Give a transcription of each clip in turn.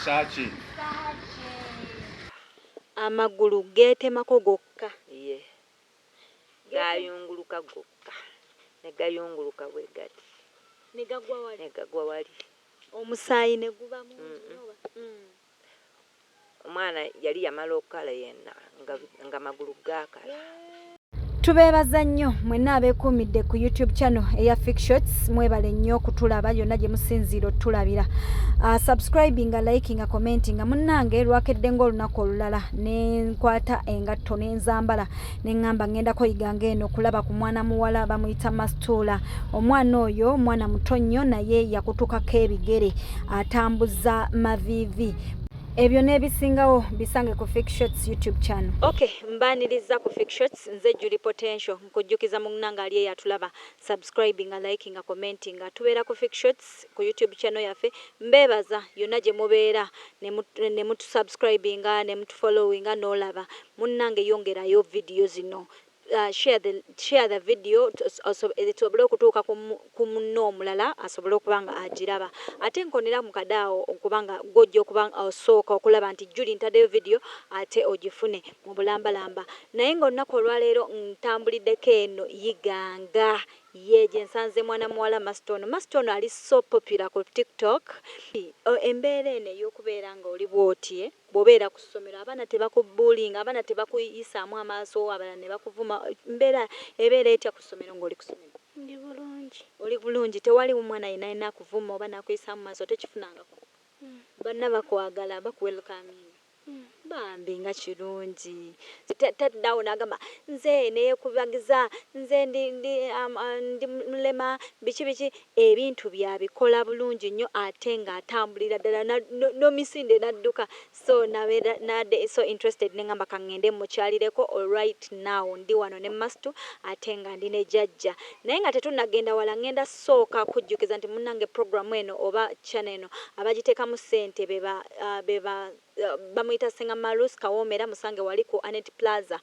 Versace. Amagulu geetemako gokka. gaayunguluka gokka, ne gayunguluka bwe gati, ne gagwa wali, ne gagwa wali. Omusaayi ne guba mungi nnyo oba? Omwana yali yamala okukala yenna, nga, nga magulu gaakala. Tubeebaza nnyo mwenna abeekuumidde ku YouTube channel eya Fictions. Mwebale nnyo okutulaba yonna gye musinziira otulabira. Uh, ah, subscribinga, likinga, commentinga. Munnange lwakedde ng'olunaku olulala nenkwata engatto nenzambala neŋŋamba ŋŋenda koyiganga eno kulaba ku mwana muwala bamuyita mastuula omwana oyo mwana muto nnyo naye yakutukako ebigere atambuza maviivi ebyo n'ebisingawo bisange ku fictions youtube channel ok mbaniriza ku fictions nze juli potential nkujjukiza munnanga ali eyatulaba subscribinga likinga commentinga tubeera ku fictions ku YouTube channel yaffe mbebaza yona jemubeera nemutu subscribinga nemutu followinga nolaba munange yongerayo video zino share the share the video esobole okutuuka ku munno omulala asobole okuba nga agiraba ate nkonera mu kade awo okuba nga gwe ojja okuba osooka okulaba nti Julie ntadeyo video ate ogifune mu bulambalamba naye nga olunaku olwaleero ntambulideko eno Iganga Yee gyensanze mwana muwala master ono master ono ali so popular ku tiktok. Bambi embeera eno ey'okubeera nga oli bw'oti bw'obeera ku ssomero abaana tebakubbuulinga, abaana tebakuyisaamu amaaso abalala ne bakuvuma, embeera ebeera etya ku ssomero ng'oli ku ssomero? Ndi bulungi. Oli bulungi tewali mwana yenna yenna akuvuma oba n'akuyisaamu maaso tokifunangako? Banna bakwagala bakuwelukaaminga? Bambi nga kirungi taddawo nagamba nze neyekubagiza nze ndi ndi ndi mulema biki biki ebintu bye abikola bulungi nnyo ate nga atambulira ddala nomisinde nadduka so nabeera nade so interested nengamba kangende mukyalireko alright now ndi wano ne mastu ate nga ndi ne jajja naye nga tetunagenda wala ngenda Sooka kujjukiza nti munange program eno oba channel eno abajitekamu sente be ba be ba bamuyita senga Marus kawomera musange wali ku Annet plaza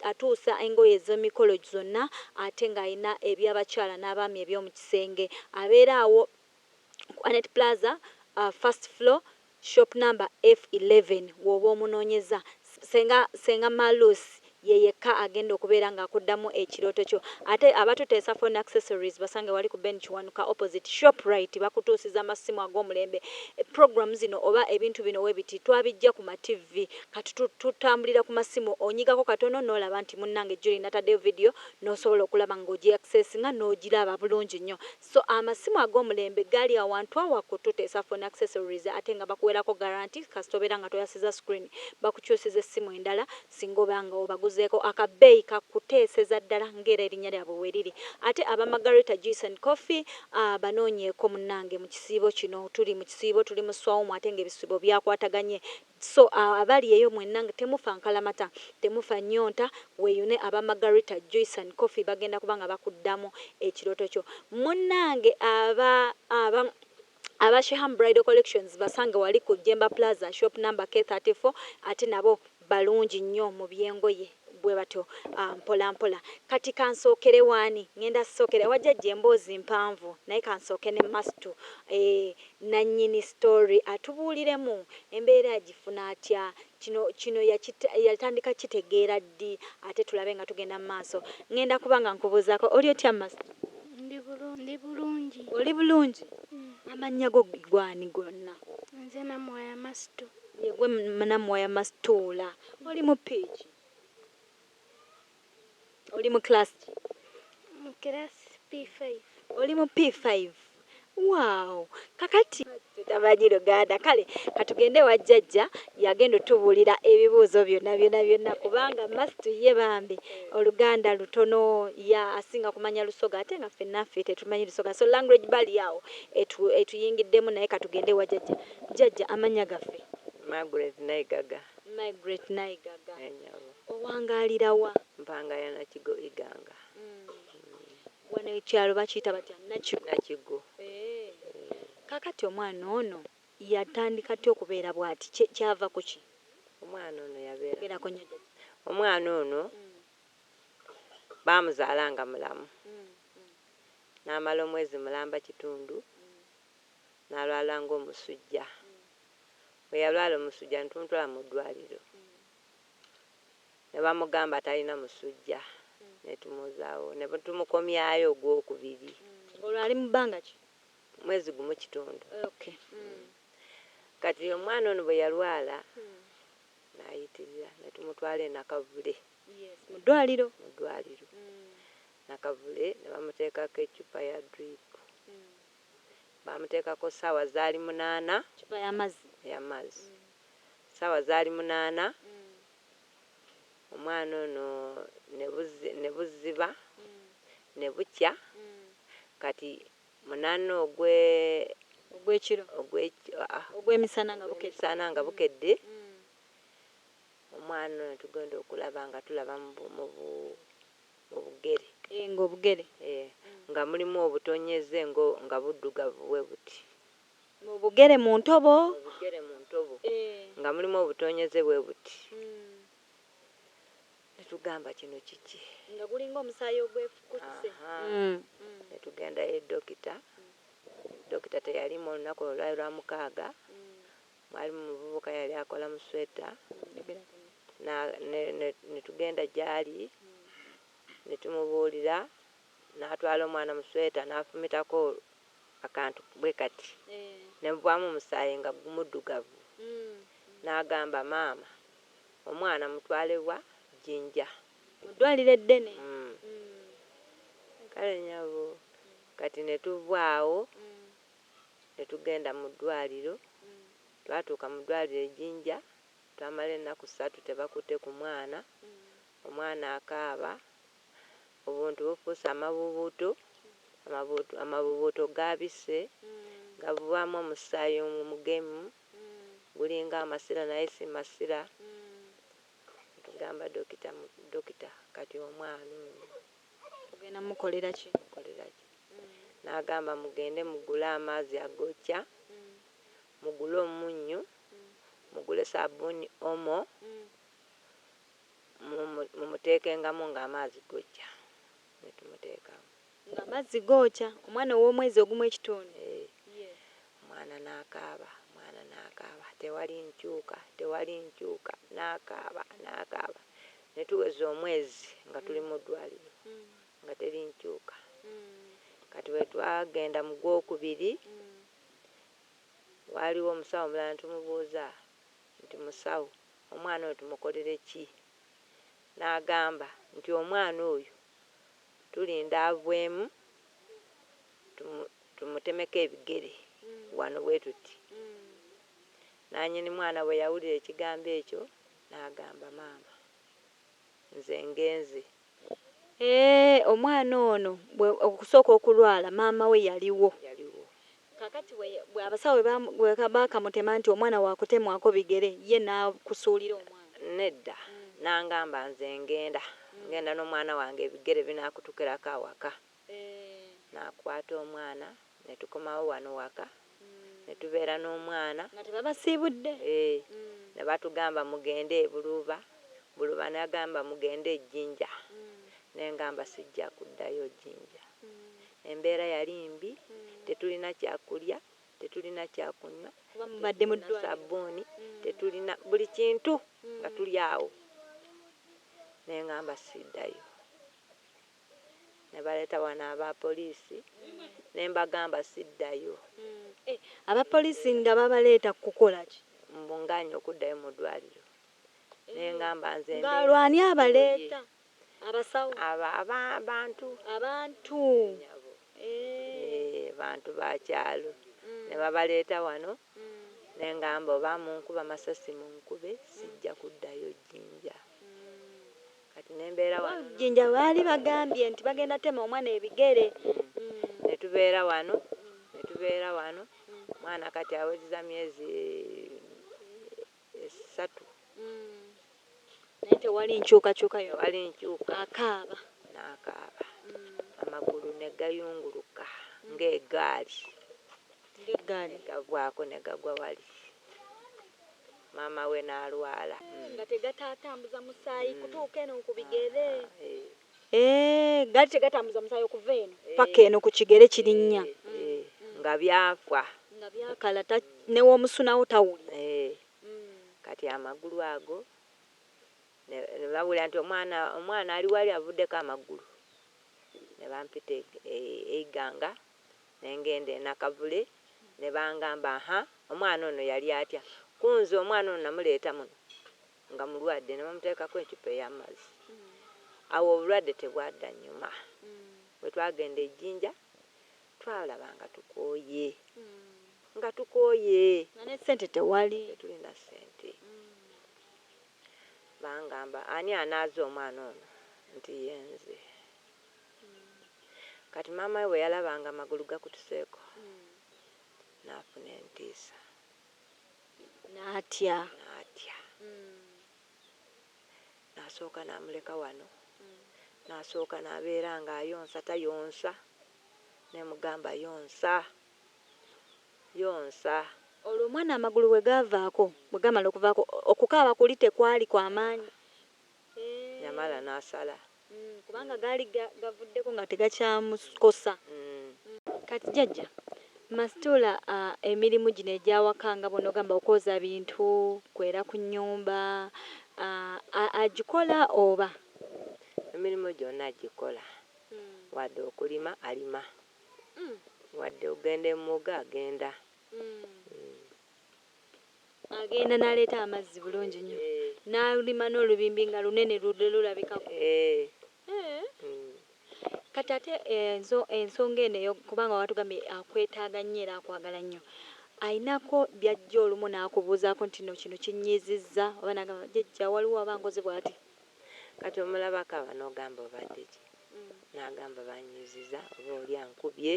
atuusa engoye ezemikolo zonna ate nga alina ebyabakyala nabaami ebyomukisenge abeera awo ku Annet plaza first floor Shop number F eleven wooba omunonyeza. Senga senga Malus ye yekka agenda okubeera nga akuddamu ekirooto kyo. Ate abatuteesa phone accessories basange wali ku Ben Kiwanuka opposite Shoprite bakutuusiza amassimu ag'omulembe. Program zino oba ebintu bino webiti twabijja ku ma TV kati tutambulira ku massimu onyigako katono n'olaba nti munnange Julie nataddeyo video n'osobola okulaba nga ogyeaccessinga n'ogiraba bulungi nnyo. So amasimu agomulembe gali awantu awo akutute sa phone accessories ate nga bakuwerako guarantee kasita obeera nga toyasiza screen bakukyusiza essimu endala singa oba nga obaguzeeko aka beeyi ka kuteeseza ddala nga era erinya lyabwe weriri ate aba Margarita juice and coffee aah banoonyeeko munange mukisiibo kino tuli mukisiibo tuli mu swawumu ate nga ebisibo byakwataganye So awo abali eyo mwenna nga temufa nkalamata, temufa nnyonta, weeyune aba Margarita juice and coffee bagenda kuba nga bakuddamu ekirooto kyo. Munnange aba, aba, aba Sheham Bridal Collections basange wali ku Jjemba Plaza, shop number K34 ate nabo balungi nnyo mu by'engoye. bwe batyo mpola mpola. Kati kansookere w'ani? Ŋŋenda kusookera ewa Jajja, emboozi mpanvu, naye kansooke ne Mastu, nnannyini sitoori atubuuliremu embeera yagifuna atya, kino, kino yatandika kukitegeera ddi, ate tulabe nga tugenda mu maaso. Ŋŋenda kuba nga nkubuuzaako. Oli otya Mastu? Ndi bulu, ndi bulungi. Oli bulungi? Amannya go ggwe ani gonna? Nze Namuwaya Mastu. Ye ggwe Namuwaya Mastu? Tuula. Oli mu piki? Oli mu class ki? Mu class P5. Oli mu P5. Wow. Kakati tamanyi Luganda. Kale katugende ewa jjajja yagenda otubuulira ebibuuzo byonna byonna byonna kubanga must ye bambi Oluganda lutono ya asinga kumanya Lusoga ate nga ffenna ffe tetumanyi Lusoga so language barrier awo etu, etuyingiddemu naye katugende ewa jjajja. Jjajja amannya gaffe? Margaret Naigaga. Margret Naigaga, Owangaalira wa? Mpanga ya Nakigo Iganga. Wano ekyalo bakiyita batya? Nakigo? Nakigo. Kaakati omwana ono yatandika atya okubeera bwati? Kyava ku ki? Omwana ono yabeera, omwana ono baamuzaala nga mulamu n'amala omwezi mulamba kitundu n'alwala ng'omusujja. bwe yalwala omusujja ntuntula mu ddwaaliro ne bamugamba talina musujja ne tumuzaawo ne tumukomyayo ogwokubiri. Olwo ali mu bbanga ki? Mwezi gumu kitundu. Kati omwana ono bwe yalwala n'ayitirira ne tumutwala e Nakavule mu ddwaaliro mu ddwaaliro Nakavule ne bamuteekako eccupa ya diriipu. Baamuteekako ssaawa zaali munaana. Ccupa y'amazzi. Y'amazzi. Ssaawa zaali munaana, omwana ono ne buzi, ne buziba, ne bukya. Kati munaana ogwe. Ogw'ekiro. Ogw'eki, aa. Ogw'emisana nga bukedde. Ogw'emisana nga bukedde. Omwana ono tugenda okulaba nga tulaba mu bu, mu bu. obugere. Eeh nga obugere. Eeh nga mulimu obutonyeze ngo nga buddugavu bwebuti. Mu bugere mu ntobo. Mu bugere mu ntobo. Eeh. Nga mulimu obutonyeze bwebuti. Uhmm. Ne tugamba kino kiki. Nga gulinga omusaayi ogwefukutise. Ahaa. Uhmm. Ne tugenda ye Dokita. Dokita teyaliimu olunaku olwo lwali lwa mukaaga. Uhmm. Mwalimu muvubuka yali akola mu sweeta na ne ne netugenda gyali ne tumubuulira n'atwala omwana mu sweeta n'afumitako akantu bwe kati ne muvaamu omusaayi nga gumuddugavu n'agamba maama omwana mutwale wa Jinja mu ddwaliro eddene kale nyabo kati ne tuva awo ne tugenda mu ddwaaliro. Twatuuka mu ddwaaliro e Jinja, twamala ennaku ssatu tebakutte ku mwana, omwana akaaba, obuntu bufuuse amabuubuutu, amabuutu, amabuubuutu gaabise, gavaamu omusaayi omugemu, gulinga amasira naye si masira. Ne tugamba dokita, dokita kati omwana ono. Ogenda mukolera ki? Mukolera ki? N'agamba, Mugende mugule amaazi agookya, mugule omunnyu, mugule sabbuuni Omo, mumu, mumuteekengamu nga amaazi gookya. Ne tumuteekamu. Nga amazzi gookya? Omwana ow'omwezi ogumu ekitundu? Yee. Omwana n'akaaba, omwana n'akaaba, Tewali nkyuka, tewali nkyuka, n'akaaba, n'akaaba. Ne tuweza omwezi nga tuli mu ddwaaliro nga teri nkyuka. Kati bwe twagenda mu gwokubiri, waaliwo omusawo omulala ne tumubuuza nti, Musawo, omwana ono tumukolere ki? N'agamba nti, Omwana oyo tulinda avemu tumutemeko ebigere wano bwe tuti. Nnannyini mwana bwe yawulira ekigambo ekyo. N'agamba, Maama, nze ngenze. Eeh, omwana ono bwe, okusooka okulwala, maama we yaliwo. Yaliwo. Kaakati bwe, bwe abasawo bwe baamu, bwe ka, baakamutema nti omwana wa kutemwako bigere, ye n'akusuulira omwana. Nedda. N'angamba, Nze ngenda. Ngenda n'omwana wange, ebigere binaakutukirako awaka. nakwata omwana netukomawo wano waka netubeera nomwana nebatugamba mugende ebuluuba buluuba nagamba mugende ejinja nengamba sijja kuddayo jinja embeera yali mbi tetulina kyakulya tetulina kyakunywa tetulina sabuuni tetulina buli kintu nga tuli awo nengamba siddayo. ne baleeta wano aba poliisi ne mbagamba siddayo. Aba poliisi nga babaleeta kukola ki? Mbu ng'aanye okuddayo mu ddwaaliro ne ngamba nze ndi Ng'alwo ani abaleeta? Abasawo? Aba, aba, bantu. Abantu. Eeh, nyabo. Eeh, bantu ba kyalo. Ne babaleeta wano. Ne ngamba oba munkuba masasi munkube sijja kuddayo Jinja. Kati ne mbeera wano. Oba Jinja baali bagambye nti bagenda tema omwana ebigere. Ne tubeera wano, ne tubeera wano. Omwana kati awezeza myezi esatu naye tewali nkyukakyuka yo ali enkyuka akaaba n'akaaba amagulu ne gayunguluka ng'egaali ng'egaali gagwako ne gagwa wali maama we n'alwala nga tegatatambuza musaayi kutuuka eno ku bigere. Ah, eh. Eh, gaali tegatambuza musaayi okuva eno eh, paka eno ku kigere kirinnya eh, mm, eh, mm. nga byafa nga byakala ta, newomusunawo tawulira eh. mm. kati amagulu ago nebawulira nti omwana omwana ali wali avuddeko amagulu nebampita e, e, eiganga nengenda enakavule nebangamba ha omwana ono yali atya kunze omwana ono namuleeta muno nga mulwadde ne bamuteekako eccupa ey'amazzi. Awo obulwadde tebwadanyuma. Bwe twagenda e Jinja twalaba nga tukooye, nga tukooye. Nga ne ssente tewali. Tetulina ssente. Bangamba ani anaaza omwana ono nti ye nze. Kati maama we bwe yalaba nga amagulu gakutuseeko n'afuna entiisa. N'atya. N'atya. Nasooka namuleka wano, nasooka nabeera nga ayonsa tayonsa, nemugamba yonsa, yonsa. Olwo omwana amagulu bwe gaavaako, bwe gaamala okuvaako, okukaaba kuli tekwaali kwa maanyi? Eeh. Namala nasala. kubanga gaali gavuddeko nga tegakyamukosa. Kati jjajja Mastuula emirimu gino egy'awaka nga bw'onogamba okwoza bintu, kwera ku nnyumba agikola oba? Emirimu gyonna agikola wadde okulima alima, wadde okugenda e mugga agenda. Agenda n'aleeta amazzi bulungi nnyo n'alima n'olubimbi nga lunene lulabikako. Kati ate ensonga eno kubanga watugambye akwetaaga nnyo era akwagala nnyo, alinako by'ajja olumu n'akubuuzaako nti nno kino kinnyiizizza oba n'agamba jjajja waliwo aba ankoze bw'ati? Kati omulabako aba n'ogamba obadde ki? N'agamba bannyiizizza oba oli ankubye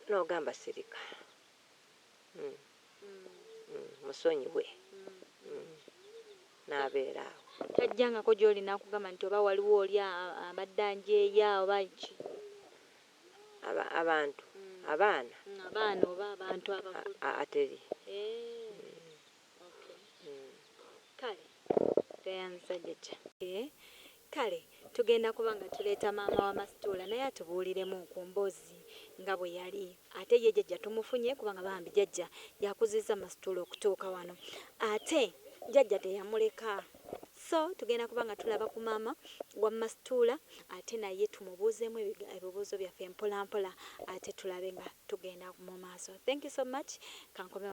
n'ogamba sirika. musonyiwe n'abeera awo. Tajjangako gy'oli n'akugamba nti oba waliwo oli abadde anjeeya oba ki? Abantu? Abaana? Abaana oba abantu abakulu? Haa teri. Eeh. Kale tugenda kuba nga tuleeta maama wa Mastuula naye atubuuliremu ku mboozi nga bwe yali. Ate ye Jajja tumufunye kubanga bambi Jajja y'akuzizza Mastuula okutuuka wano. Ate Jajja teyamuleka. So tugenda kuba nga tulaba ku maama wa Mastuula ate naye tumubuuzeemu ebibuuzo byaffe mpolampola ate tulabe nga tugenda mu maaso. Thank you so much. Kankomewo.